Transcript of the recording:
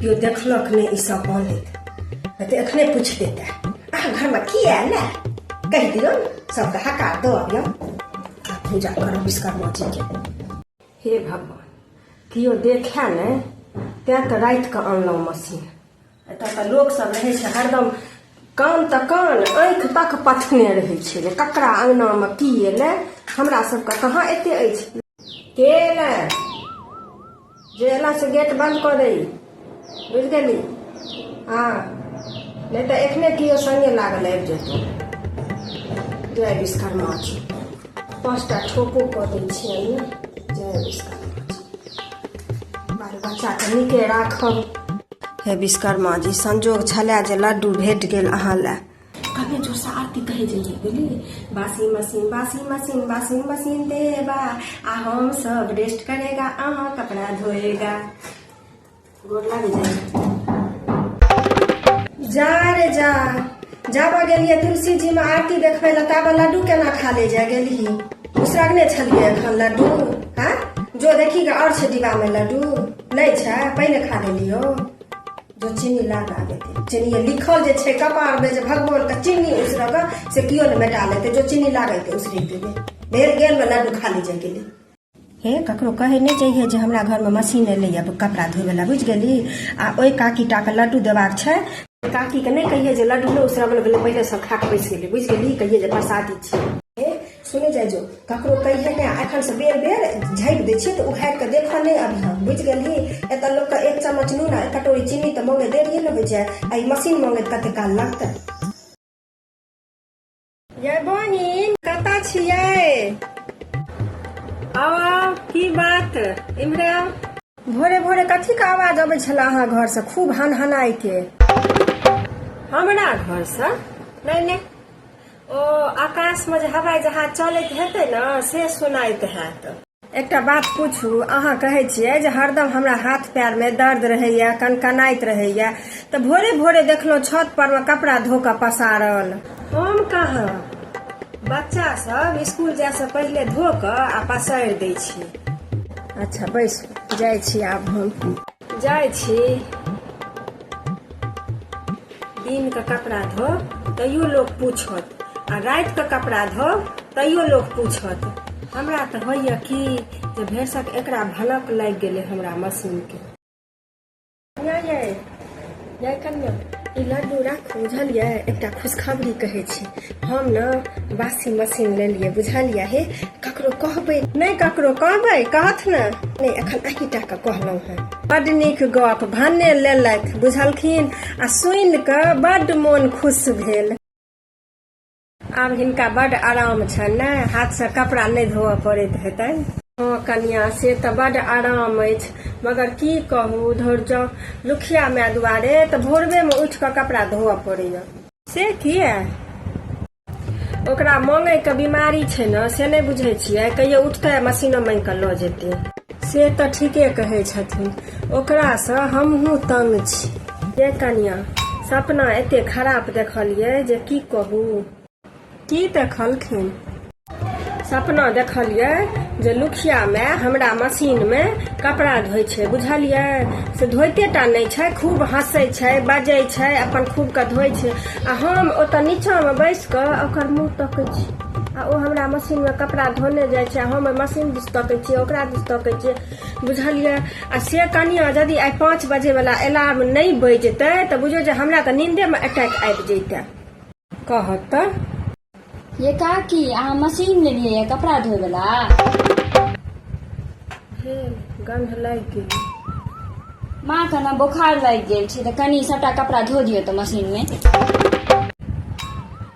केओ देखलक नहि ई सब बनैत नहि तऽ एखने पूछि देतै अहाँ घरमे की आयल ने कहि दियौ सबके हकार दऽ अबियौ आ पूजा करब विश्वकर्मा जीके हे भगवान केओ देखै ने तैँ तऽ रातिके अनलहुँ मशीन एतऽ तऽ लोक सब रहै छै हरदम कान तऽ कान आँखि तक पथने रहै छै जे ककरा अङ्गनामे की एलै हमरा सबके कहाँ एते अछि के एलै जे एला से गेट बन्द कऽ दै बुझि गेली हँ नहि तऽ एखने केओ सङ्गे लागल आबि जेतौ जय विश्वकर्मा छी पाँचटा ठोको कऽ दै छियै जय विश्वकर्मा बाल बच्चाके नीके राखब हे विश्वकर्मा जी संजोग छलै जे लड्डू भेट गेल अहाँ लए कभी जोरसँ आरती कहै जइए बुझलियै बासी मशीन बासी मशीन बासी मशीन देबा आ हम सब रेस्ट करेगा अहाँ कपड़ा धोएगा जा रे जा जाब गेलियै तुलसी जी में आरती देखबै लए ताबे लड्डू केना खा ले जा गेली उसरगने छलियै एखन लड्डू हाँ जो देखी गे आओर छै डिब्बामे लड्डू नहि छै पहिले खा लेलियो जो चीनी लाग आबे चीनी लिखल जे छै कपार में जे भगवान के चीनी उसरग से कियो ने मेटा लेते जो चीनी लागै ते उसरे देबै भेल गेल में लड्डू खा ले जा गेली हे ककरो कहे नहि चाहिए जे हमरा घरमे मशीन एलैए कपड़ा धोयवला बुझि गेली आ ओहि काकीटाके लड्डू देबाक छै काकीके नहि कहिए जे लड्डू नहि उसरबल गेलै पहिले सब खा कऽ बैस गेलै बुझि गेली कहिए जे प्रसादी छियै सुनै जाइ जो ककरो कहिए नहि एखनसँ बेर बेर झाँपि दै छियै तऽ उघारि कऽ देखऽ नहि अभी हम बुझि गेली एतऽ लोकके एक चम्मच नून आ एक कटोरी चीनी तऽ मङ्गे देरिए ने होइ छै आ ई मशीन मङ्गैत कते काल लगतै जय बहिन कतऽ छियै आवा की बात इम्हरे आउ। भोरे भोरे कथी के आवाज अबै छला अहाँ घर से खूब हन हनाइ के हमरा घर से नहि नहि ओ आकाश में जे हवाई जहाज चलैत हेतै ने से सुनाइत हैत एकटा बात पूछू अहाँ कहै छियै जे हरदम हमरा हाथ पैर में दर्द रहैया कनकनाइत रहैया तऽ भोरे भोरे देखलहुँ छत पर में कपड़ा धो कऽ पसारल हम कहाँ बच्चा सब स्कूल जाय से पहिले धो कऽ आ पसारि दै छी अच्छा बैसू जाइ छी आब हम जाइ छी दिनके कपड़ा धो तैयो लोक पूछत आ रातिके कपड़ा धो तैयो लोक पूछत हमरा तऽ होइए कि जे भेसक एकरा भनक लागि गेलै हमरा मशीनके जय कन्या ई लड्डू राखू बुझलियै एकटा खुशखबरी कहै छी हम ने वाशिंग मशीन लेलियै बुझलियै हे ककरो कहबै नहि ककरो कहबै कहत ने नहि एखन अही टा के कहलहुँ हेँ बड्ड नीक गप भने लेलथि बुझलखिन आ सुनि कऽ बड्ड मोन खुश भेल आब हिनका बड आराम छनि ने हाथ से कपड़ा नहि धोअ पड़ैत हेतनि हँ कनिया से तऽ बड आराम अछि मगर की कहू धर जाउ लुखिया माय दुआरे तऽ भोरबे मे उठि कऽ कपड़ा धोअ पड़ैया से किया ओकरा मांगे के बीमारी छै ने से नहि बुझे छियै कहियो उठते मशीनो मांगि कऽ लऽ जेतै से तऽ ठीके कहै छथिन ओकरासँ हमहूँ तंग छी ये कनिया सपना एते खराब देखलियै जे की कहू की देखलखिन सपना देखलियै जे लुखिया माय हमरा मशीन मे कपड़ा धोइ छै बुझलियै से धोइते टा नहि छै खूब हँसै छै बजै छै अपन खूब के धोइ छै आ हम ओतऽ नीचा मे बैस कऽ ओकर मुँह तकै छी आ ओ हमरा मशीनमे कपड़ा धोने जाइ छै हम मशीन दिस तकै छियै ओकरा दिस तकै छियै बुझलियै आ से कनिया यदि आइ पाँच बजेवला अलार्म नहि बजतै तऽ बुझियौ जे हमरा तऽ नींदेमे अटैक आबि जैतै कहत तऽ ये काकी अहाँ मशीन लेलियै यऽ कपड़ा धोयवला हे गंध लागि गेल माँ के ने बोखार लागि गेल छै तऽ कनि सभटा कपड़ा धो दियौ तऽ मशीनमे